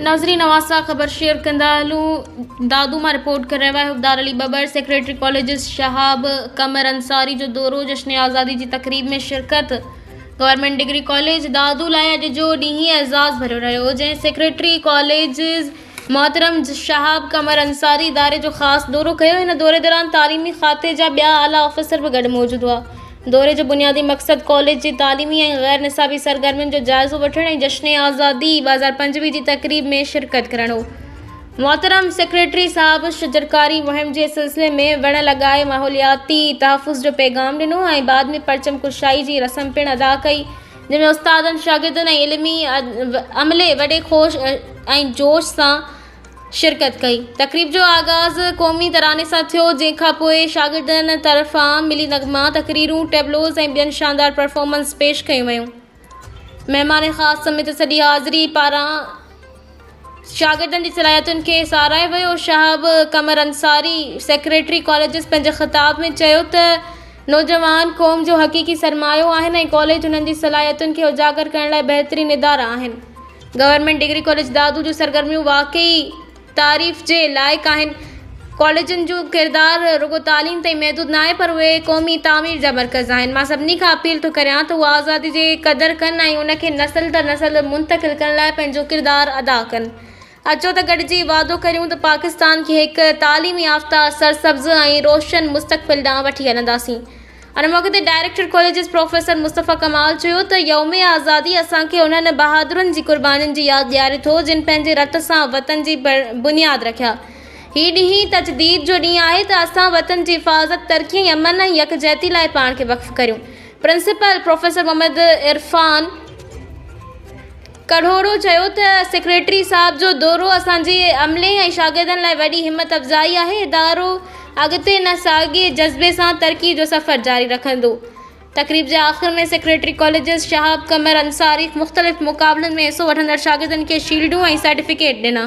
ناظرين اوهان سان خبر شيئر ڪندا هلون دادو مان رپورٽ ڪري رهيو آهي حبدار علي ٻٻر سيڪريٽري ڪاليجز شهاب قمر انصاري جو دورو جشن آزادي جي تقريب ۾ شرڪت گورنمينٽ ڊگري ڪاليج دادو لاء اڄ جو ڏينهن اعزاز ڀريو رهيو جنهن سيڪريٽري ڪاليجز محترم شهاب قمر انصاري اداري جو خاص دورو ڪيو هن دوري دوران تعليمي کاتي جا ٻيا اعليٰ آفيسر به گڏ موجود هئا دوري جو بنيادي مقصد ڪاليج جي تعليمي ۽ غير نصابي سرگرمين جو جائزو وٺڻ ۽ جشن آزادي ٻه هزار پنجويهه جي تقريب ۾ شرڪت ڪرڻ هو محترم سيڪريٽري صاحب شجرڪاري مهم جي سلسلي ۾ وڻ لڳائي ماحولياتي تحفظ جو پيغام ڏنو ۽ بعد ۾ پرچم ڪشائي جي رسم پڻ ادا ڪئي جنهن ۾ استادن، شاگردن ۽ علمي عملي وڏي خوش ۽ جوش سان شرڪت ڪئي. تقريب جو آغاز قومي تراني سان ٿيو، جنهن کان پوء شاگردن طرفان ملي نغما، تقريرون، ٽيبلوز ۽ ٻين شاندار پرفارمنس پيش ڪيون ويون. مهمان خاص سميت سڄي حاضري پاران. شاگردن جي صلاحيتن کي ساراهي ويو شهاب قمر انصاري سيڪريٽري ڪاليجز پنهنجي خطاب ۾ چيو ته نوجوان قوم جو حقيقي سرمايو آهن ۽ ڪاليج انهن جي صلاحيتن کي اجاگر ڪرڻ لاء بهترين ادارا آهن گورنمينٽ ڊگري ڪاليج دادو جون سرگرميون واقعي تعريف جي لائق آهن ڪاليجن جو ڪردار رڳو تعليم تائين محدود ناهي پر اهي قومي تعمير جا مرڪز آهن. مان سڀني کان اپيل ٿو ڪريان ته اها آزادي جي قدر ڪن ۽ ان کي نسل در نسل منتقل ڪرڻ لاء پنهنجو ڪردار ادا ڪن. اچو ته گڏجي وعدو ڪريون ته پاڪستان کي هڪ تعليم يافته، سرسبز ۽ روشن مستقبل ڏانهن وٺي هلنداسين. ان موقعي تي director colleges professor Mustafa Kamal چيو ته يوم آزادي اسان کي انهن بهادرن جي قربانين جي ياد ڏياري ٿو جن پنهنجي رت سان وطن جي بنياد رکيا هي ڏينهن تجديد جو ڏينهن آهي ته اسان وطن جي حفاظت ترقي ۽ امن ۽ يڪجهتي لاء پاڻ کي وقف ڪريون پرنسپل پروفيسر محمد عرفان کهڙو چيو ته سيڪريٽري صاحب جو دورو اسان جي عملي ۽ شاگردن لاء وڏي همت افزائي آهي، ادارو اڳتي نه ساڳئي جذبي سان ترقي جو سفر جاري رکندو. تقريب جي آخر ۾ سيڪريٽري ڪاليجز شهاب قمر انصاري مختلف مقابلن ۾ حصو وٺندڙ شاگردن کي شيلڊون ۽ سرٽيفڪيٽ ڏنا.